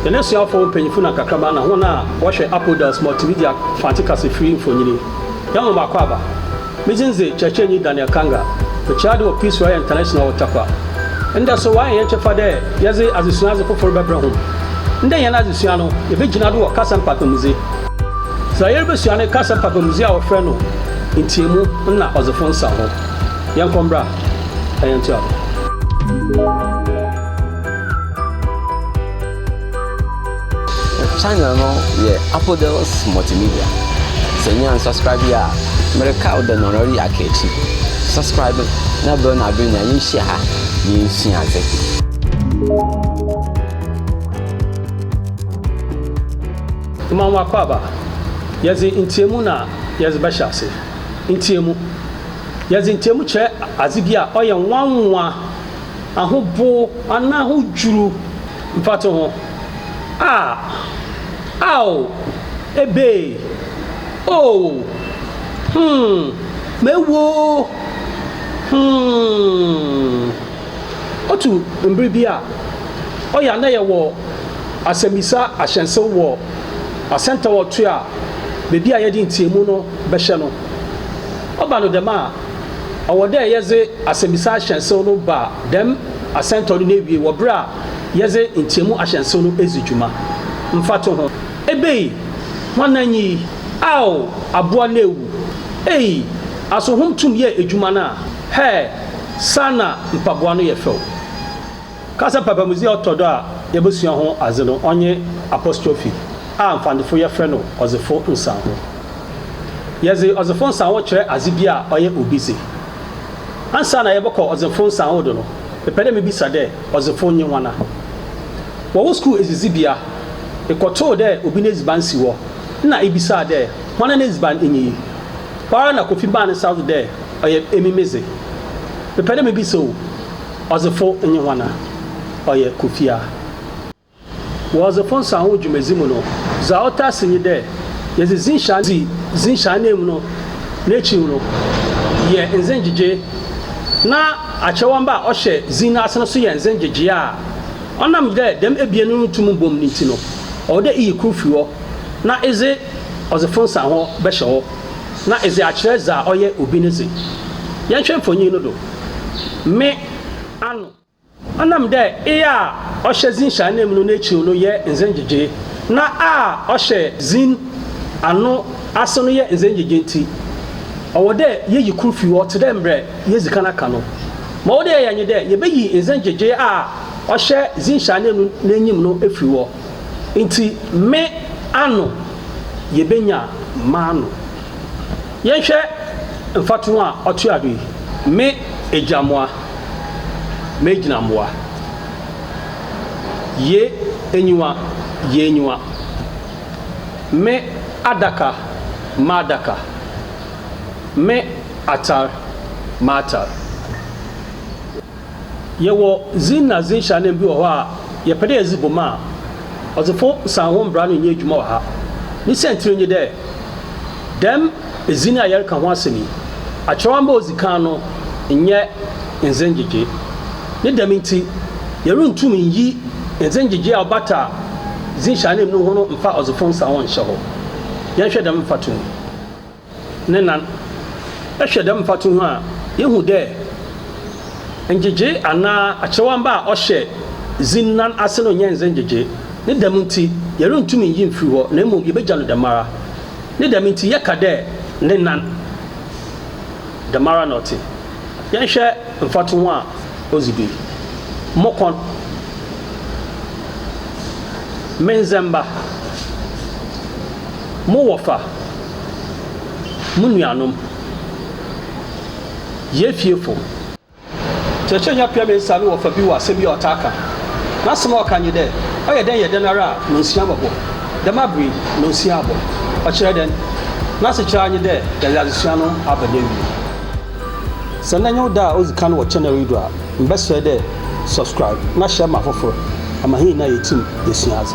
Yɛn asuafo mpanyimfo na nkakraba na hɔn a wɔhwɛ Apodels Multimedia Mfantse Kasafir mfonyin. Hɛnhom akwaaba, Me dzin dze Kyerɛkyerɛnyi Daniel Kanga. Mekyerɛ adze wɔ Peace Royal International wɔ Tarkwa. Ndɛ so wɔayɛ hɛn kyɛfa dɛ yɛdze adzesua adze fofor bɛbrɛ hom. Ndɛ hɛn adzesua no, yebegyina do wɔ kasa mpakpamudze. Dza yeribesua no kasa mpakpamudze a wɔfrɛ no Ntseamu na Ɔdzefo Nsaho. Yɛnkɔ mbra na yɛntoa do. Channel no yɛ Apodels Multimedia. Sɛ nyaa nsubscribe yi a, mereka wo dɛ nɔnɔre yɛ aka akyi. Subscribe na bɛn na bɛn na yɛnhyia ha na yɛnsua adze. Ma wo akwaaba. Yɛdze ntseamu na yɛdze bɛhyɛ ase. Ntseamu. Yɛdze ntseamu kyerɛ adze bi a ɔyɛ nwanwa. ahobow anaa ahodwiriw mfatoho a, Ao, ebei, Oo, hmm, mewu oo, hmm. Otu mber bi a, ɔyɛ a nna yɛwɔ asɛmbisa ahyɛnsew wɔ asɛntaɔtoa a beebi a yɛdze ntseamu no bɛhyɛ no. Ɔba no dɛm a, ɔwɔ dɛ yɛdze asɛmbisa ahyɛnsew no ba dɛm asɛntɔw no n'ewiei wɔ ber a yɛdze ntseamu ahyɛnsew no edzi dwuma. Mfatoho, Ebei, Hwanna nye yi? Aow, Abowa no ewu. Ei, Aso hom tum yɛɛ edwuma no a? Hɛɛ, Saana mpaboa no yɛ fɛw. Kasa papa mu dze a ɔtɔ do a yebosua ho adze no ɔnye apostrophe a Mfantofo yɛfrɛ no ɔdzefo nsanho. Yɛdze ɔdzefo nsanho kyerɛ adze bi a ɔyɛ obi dze. Ansaana yɛbɔkɔ ɔdzefo nsanho do no, mepɛ dɛ mibisa dɛ, ɔdzefo nye woana? Wɔ wo skuul edzidzibea, ekɔtoo dɛ obi n'edziban si hɔ na ibisaa dɛ, Woana n'edziban nye yi? Hɔ ara na Kofi maa ne nsa do dɛ, Ɔyɛ emi me dze. Mepɛ dɛ mibisa o. Ɔdzefo nye woana? Ɔyɛ Kofi a. Wɔ Ɔdzefo Nsaho dwumadzi mu no, dza ɔtaa si nye dɛ yɛdze dzin hyɛ ananmu, dzi dzin hyɛ ananmu no n'ekyir no yɛ ndze ngyegyee na akyerɛwamba a ɔhyɛ dzin no ase no so yɛ ndze ngyegyee a. Ɔnam dɛ dɛm ebien no nntum mbom no ntsi no, ɔwɔ dɛ iyi kor fi hɔ na edze Ɔdzefo Nsaho bɛhyɛ hɔ na edze akyerɛ dza ɔyɛ obi ne dze. Yɛnhwɛ mfonyin no do. me ano. Ɔnam dɛ eye a ɔhyɛ dzin hyɛ ananmu no n'ekyir no yɛ ndze ngyegyee, na a ɔhyɛ dzin ano ase no yɛ ndze ngyegyee ntsi, ɔwɔ dɛ yeyi kor fi hɔ tse dɛ mbrɛ yeedzi kan aka no. Ma ɔwɔ dɛ yɛyɛ nye dɛ yebeyi ndze ngyegyee a ɔhyɛ dzin hyɛ ananmu n'enyim no efi hɔ. Ntsi, me ano, yebenya m'ano. Yɛnhwɛ mfatoho a ɔtoa do yi, Me egyammoa, m'egyinambowa. Ye enyiwa, y'enyiwa. Me adaka, m'adaka. Me atar, m'atar. Yɛwɔ dzin na dzin hyananmu bi wɔ hɔ a yɛpɛ dɛ yɛdze bɔ mu a, Ɔdzefo Nsanho mbra no nnyɛ edwuma wɔ ha. Ne siantsir nye dɛ, dɛm edzin a yɛreka ho asɛm yi, akyerɛwamba a odzi kan no nnyɛ ndze ngyegye. Ne dɛm ntsi, yerunntum nnyi ndze ngyegye a ɔbata dzin hyananmu no ho no mmfa Ɔdzefo Nsanho nnhyɛ hɔ. Yɛnhwɛ dɛm mfatoho yi. ne nan. Ehwɛ dɛm mfatoho a, yehu dɛ ngyegyee anaa akyerɛwamba a ɔhyɛ dzin nan ase no nnyɛ ndze ngyegyee. Ne dɛm ntsi, yerunntum nnyi mmfir hɔ na mbom yebegya no dɛmara. Ne dɛm ntsi, yɛka dɛ ne nan. Dɛmara na ɔtse. Yɛnhwɛ mfatoho a odzi do yi, Mo kɔn. Me ndzɛmba. Mo wɔfa. Mo nuanom, yɛ fiefo. Kyerɛkyerɛnyi apia me nsa no wɔfa bi wɔ asɛm bi a ɔtaa ka. N'asɛm a ɔka nye dɛ, Ɔyɛ dɛn yɛ dɛn ara a nonsua bɔbɔ. Dɛm aber yi, nonsua abɔ. Ɔkyerɛ dɛn? N'asekyerɛ ara nye dɛ dza adzesua no aba n'ewiei. Sɛ ndɛ nye wo da a odzi kan wɔ channel yi do a, mebɛserɛ dɛ subscribe na share ma afofor, ama hɛn nyina yetsim yesua adze.